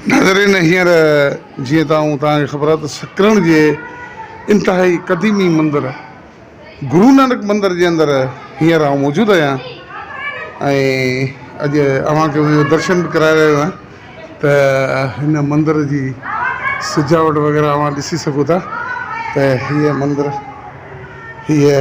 ناظرين هينئر جيئن ته آئون توهان کي خبر آهي ته سڪرڻ جي انتهائي قديمي مندر گرو نانڪ مندر جي اندر هينئر آئون موجود آهيان ۽ اڄ اوهان کي ان جو درشن به ڪرائي رهيو آهيان ته هن مندر جي سجاوٽ وغيره اوهان ڏسي سگهو ٿا ته هيء مندر هيء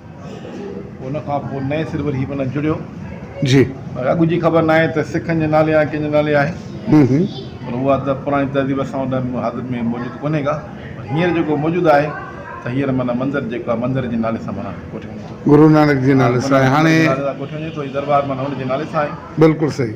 ان کان پوء نئين سر وري هي پن جڙيو. جي. پر اڳ جي خبر ناهي ته سکن جي نالي آهي ڪنهن جي نالي آهي. هون هون. پر اها ته پراڻي تهذيب اسان وٽ ۾ حاضر ۾ موجود ڪونهي ڪا. پر هينئر جيڪو موجود آهي ته هينئر معنيٰ منظر جيڪو آهي مندر جي نالي سان معنيٰ ڪوٺي وڃي ٿو. گرونانڪ جي نالي سان آهي. هاڻي. گرونانڪ جي نالي سان ڪوٺي وڃي ٿو. هي دربار معنيٰ هن جي نالي سان آهي. بلڪل صحيح.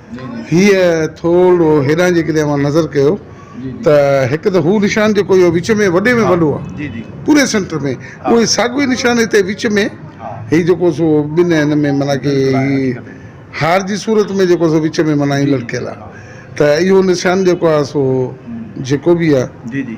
هيء ٿورڙو هيڏانهن جيڪڏهن اوهان نظر ڪيو ته هڪ ته هو نشان جيڪو اهو وچ ۾ وڏي ۾ وڏو آهي پوري سينٽر ۾ اهو ئي ساڳيو نشان هتي وچ ۾ هي جيڪو سو ٻن هن ۾ معنيٰ ڪي هي هار جي صورت ۾ جيڪو سو وچ ۾ معنيٰ هي لڙڪيل آهي ته اهو نشان جيڪو آهي سو جيڪو به آهي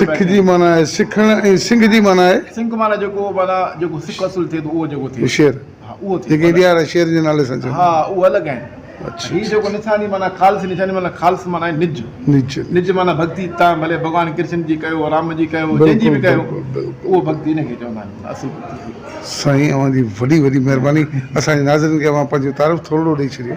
سک جي معنيٰ آهي سکڻ ۽ سنگ جي معنيٰ آهي شير جيڪي انڊيا وارا شير جي نالي سان سائين اوهان جي وڏي وڏي مهرباني اسان جي ناظرين کي اوهان پنهنجو تعارف ٿورڙو ڏئي ڇڏيو.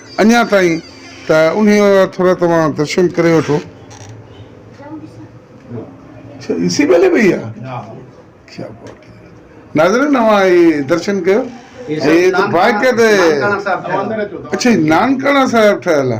اڃا تائين ته انهيء جا ٿورا توهان درشن ڪري وٺو. اڇا ايسي ٻلي پئي آ ڪيا بات ھي ناظرين اوھان ھي درشن ڪيو ھي ته باقيد اڇا ھي نانڪاڻا صاحب ٺھيل آ.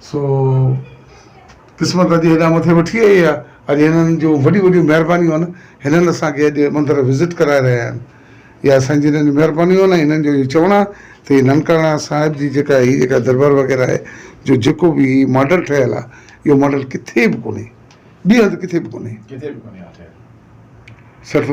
سو قسمت اڄ هيڏانهن مٿي وٺي آئي آهي. اڄ هنن جون وڏيون وڏيون مهربانيون آهن. هنن اسان کي اڄ مندر وزٽ ڪرائي رهيا آهن. اها سائين جن جون مهربانيون آهن ۽ هنن جو اهو چوڻ آهي ته هي ننڪانه صاحب جي جيڪا هي جيڪا دربار وغيره آهي جو جيڪو به هي ماڊل ٺهيل آهي اهو ماڊل ڪٿي به ڪونهي. ٻي هنڌ ڪٿي به ڪونهي. ڪٿي به ڪونهي آ ٺهيل. سر ٿو.